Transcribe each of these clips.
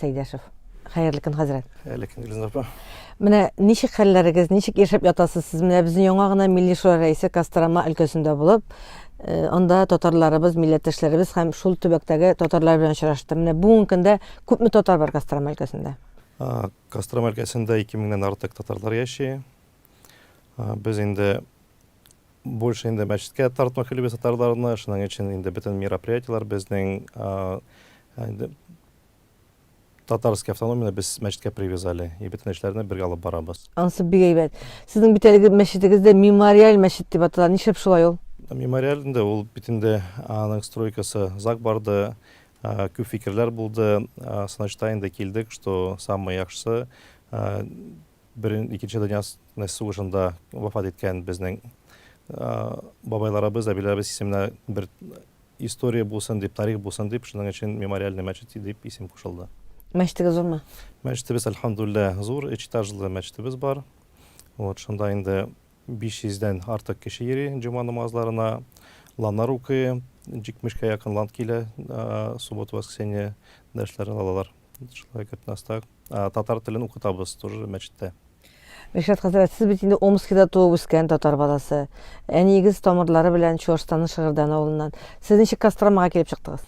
Сәйдәшев. Хәерле көн, хәзрәт. Хәерле көн, Гөлзина апа. Менә ничек хәлләрегез, ничек яшәп ятасыз сез? Менә безнең яңа гына Милли шура рәисе Кострома өлкәсендә булып, э, анда татарларыбыз, милләттәшләребез һәм шул төбәктәге татарлар белән очрашты. Менә бүгенге көндә күпме татар бар Кострома өлкәсендә? А, Кострома өлкәсендә 2000-дән артык татарлар яши. А, Без инде больше инде мәчеткә тартмак өлебез татарларны, шуның өчен инде бөтен мероприятиеләр безнең а, инде Татарский автономияне без мәчеткә привязали и бөтен эшләрне бергә алып барабыз. Ансы бик әйбәт. Сезнең бит әлеге мәчетегез дә мемориаль мәчет дип атала. Нишләп шулай ул? Мемориаль инде ул бит инде аның стройкасы зак барды, күп фикерләр булды. Сынашта инде килдек, что самый яхшысы берен икенче дөнья сугышында вафат иткән безнең бабайларыбыз, әбиләребез исеменә бер История булсын дип, тарих булсын дип, шуның өчен Мемориальный мәчет дип исем кушылды. Мәчетегез зурмы? Мәчетебез, әлхәмдүлилләһ, зур, өч этажлы мәчетебез бар. Вот, шунда инде 500 дән артык кеше йөри җома намазларына, ланнар укый, 70 кә якын лан килә, суббота-воскресенье дәресләрен алалар. Шулай күп наста. Татар телен укытабыз тоже мәчеттә. Ришат хәзрәт, сез бит инде Омскида туып үскән татар баласы. Әниегез тамырлары белән Чуашстанның Шыгырдан авылыннан. Сез ничек Костромага килеп чыктыгыз?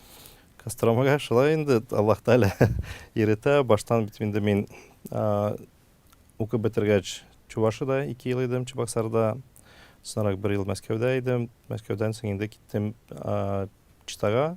Костромага шулай инде Аллаһ Тәгалә иретә. Баштан бит инде мин укып бетергәч Чувашида 2 ел идем, Чебоксарда. Соңрак бер ел Мәскәүдә идем. Мәскәүдән соң инде киттем Читага,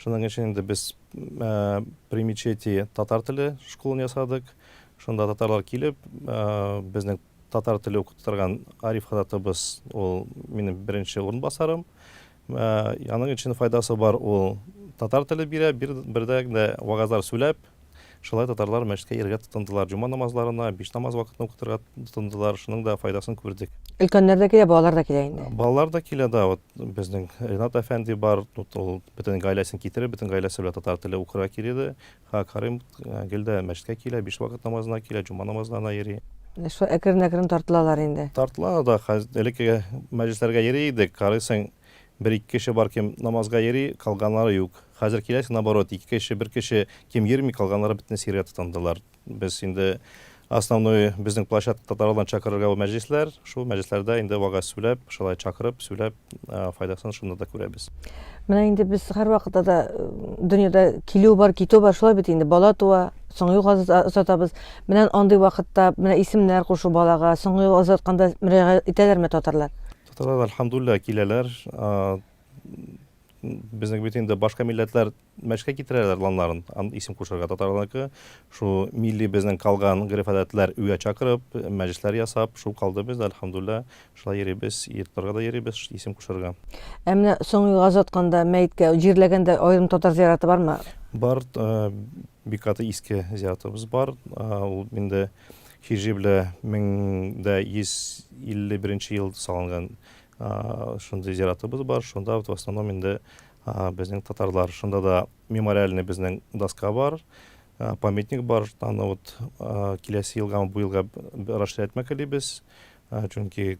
Шуның өчен инде без при мечети татар теле школын ясадык. Шунда татарлар килеп, безнең татар теле укытып торган Ариф хататыбыз, ул минем беренче урынбасарым. Аның өчен файдасы бар, ул татар теле бирә, бер дә вагазлар сүләп, Шулай татарлар мәчеткә йөрергә тотындылар. Җома намазларына биш намаз вакытны укытырга тотындылар. Шуның да файдасын күрдек. Өлкәннәр дә килә, балалар да килә инде. Балалар да килә, да. Вот безнең Ринат әфәнди бар. Вот ул бөтен гаиләсен китереп, бөтен гаиләсе белән татар теле укырга килә иде. Ха, Карим гел дә мәчеткә килә, биш вакыт намазына килә, җома намазларына йөри. Шулай әкрен-әкрен тартылалар инде. Тартылалар да. Хәз, элеккеге мәҗлесләргә йөри идек, карыйсың, Бер-ике кеше бар кем намазга йөри, калганнары юк. Хәзер киләсең, наоборот, ике кеше, бер кеше кем йөрми, калганнары бөтенесе йөрергә тотындылар. Без инде основной безнең площадкада таралган чакырырга бу мәҗлесләр, шул мәҗлесләрдә инде вагаз сүләп, шулай чакырып, сүләп, файдасын шунда да күрәбез. Менә инде без һәрвакытта да дөньяда килү бар, китү бар, шулай бит инде, бала туа, соңгы юлга озатабыз. Менә андый вакытта менә исемнәр кушу балага, соңгы юлга озатканда мөрәҗәгать итәләрме татарлар? Татарлар, альхамдуллилла, киләләр. Безнең бит инде башка милләтләр мәшкә китерәләр ланларын, исем кушырга татарларныкы. Шул милли безнең калган гөреф-гадәтләр үгә чакырып, мәҗлесләр ясап, шул калды без, альхамдуллилла. Шулай йөрибез, йортларга да йөрибез исем кушырга. Ә менә соңгы юлга озатканда, мәеткә җирләгәндә аерым татар зияраты бармы? Бар, бик каты иске зиятыбыз бар. Ул инде Хижибле 1151 нче ел салынган шундый зиратыбыз бар. Шунда вот в основном инде безнең татарлар. Шунда да мемориальный безнең доска бар, памятник бар. Аны вот киләсе елга, бу елга расширятьмә телибез. Чөнки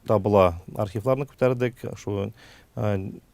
табыла архивларны күтәрдек. Шул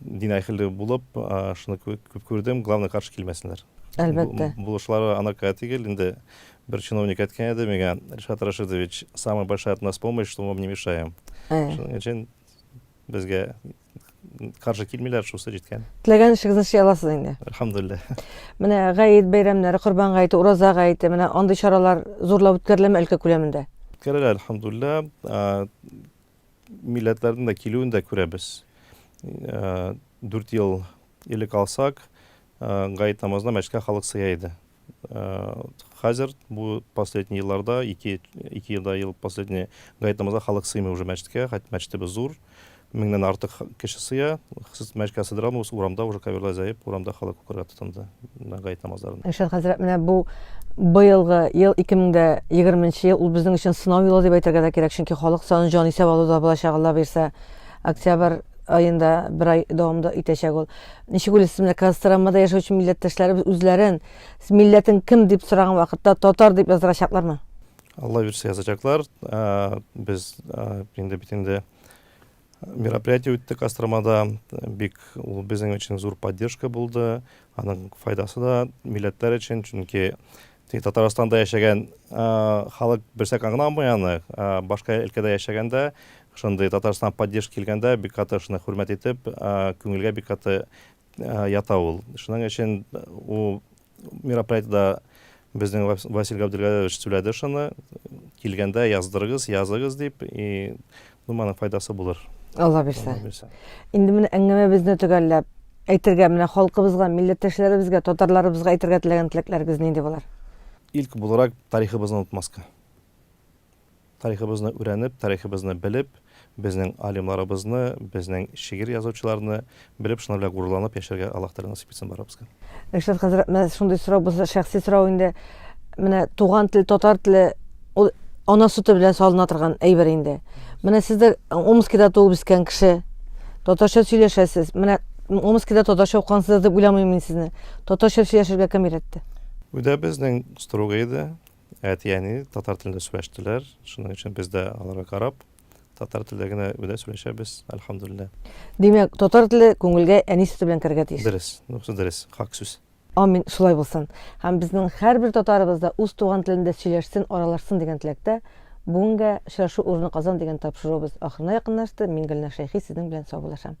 Дин әхеле булып, шуны күп күрдем, главный каршы килмәсеннәр. Әлбәттә. Булышлары анакая түгел, инде бер чиновник әйткән иде миңа, Ришат Рашидович, самая большая от нас помощь, что мы вам не мешаем. Шуның өчен безгә каршы килмиләр, шусы җиткән. Теләгән эшегезне эшли аласыз инде. Әлхәмдулилла. Менә Гаит бәйрәмнәре, Корбан Гаете, Ураза Гаете, менә андый чаралар зурлап үткәреләме өлкә күләмендә? Үткәрелә, әлхәмдулилла. милләтләрнең дә килүен дә күрәбез. Дүрт ел элек алсак, гает намазына мәчеткә халык сыя иде. Хәзер бу последний елларда, ике елда ел последний гает намазына халык сыймый уже мәчеткә, хәтта мәчетебез зур, меңнән артык кеше сыя, мәчеткә сыйдыра алмыйбыз, урамда уже коверлар җәеп, урамда халык укырга тотынды. Гает намазларын. Ришат хәзрәт, менә бу быелгы ел 2020 ел ул безнең өчен сынау елы дип әйтергә дә кирәк, чөнки халык саны җан исәп алуда булачак Алла бирсә. Октябрь айында бер ай дәвамында итәчәк ул. Ничек уйлыйсыз, менә Костромада яшәүче милләттәшләребез үзләрен милләтең кем дип сораган вакытта татар дип яздырачаклармы? Алла бирсә язачаклар. Без инде бит инде Мероприятие үтте Костромада. Бик ул безнең өчен зур поддержка булды. Аның файдасы да милләтләр өчен, чөнки Татарстанда яшәгән халык берсәк аңламый аны. Башка өлкәдә яшәгәндә, шундый Татарстан поддержка килгәндә бик каты шуны хөрмәт итеп, күңелгә бик каты ята ул. Шуның өчен ул Мероприятиедә безнең Василий Габделгадерович сүләде шуны, килгәндә яздырыгыз, языгыз дип, и ну моның файдасы булыр. Алла бирсә. Инде менә әңгәмәбезне төгәлләп, әйтергә менә халкыбызга, милләттәшләребезгә, татарларыбызга әйтергә теләгән теләкләрегез нинди булыр? Илк буларак тарихыбызны онытмаска. Тарихыбызны үрәнеп, тарихыбызны белеп, безнең алимларыбызны, безнең шигырь язучыларны белеп, шулар белән горурланып яшәргә Аллаһ Тәгалә насыйп итсен барыбызга. Ришат хәзрәт, менә шундый сорау булса, шәхси сорау инде. Менә туган тел, татар теле, ул ана сөте белән салына торган әйбер инде. Менә сез дә Омскида туып үскән кеше. Татарча сөйләшәсез. Менә Омскида татарча укыгансыз дип уйламыйм мин сезне. Татарча сөйләшергә кем өйрәтте? Өйдә безнең строго иде. әти-әни татар телендә сөйләштеләр. Шуның өчен без дә аларга карап, татар телдә генә үдә сөйләшәбез, әлхәмдүлиллә. Димәк, татар теле күңелгә әни сөте белән керергә тиеш. Дөрес, монысы дөрес, хак сүз. Амин, шулай булсын. Һәм безнең һәрбер татарыбыз да үз туган телендә сөйләшсен, аралашсын дигән теләктә. Бүгенгә очрашу урыны Казан дигән тапшыруыбыз ахырына якынлашты. Мин Гөлнар Шәйхи сезнең белән саубуллашам.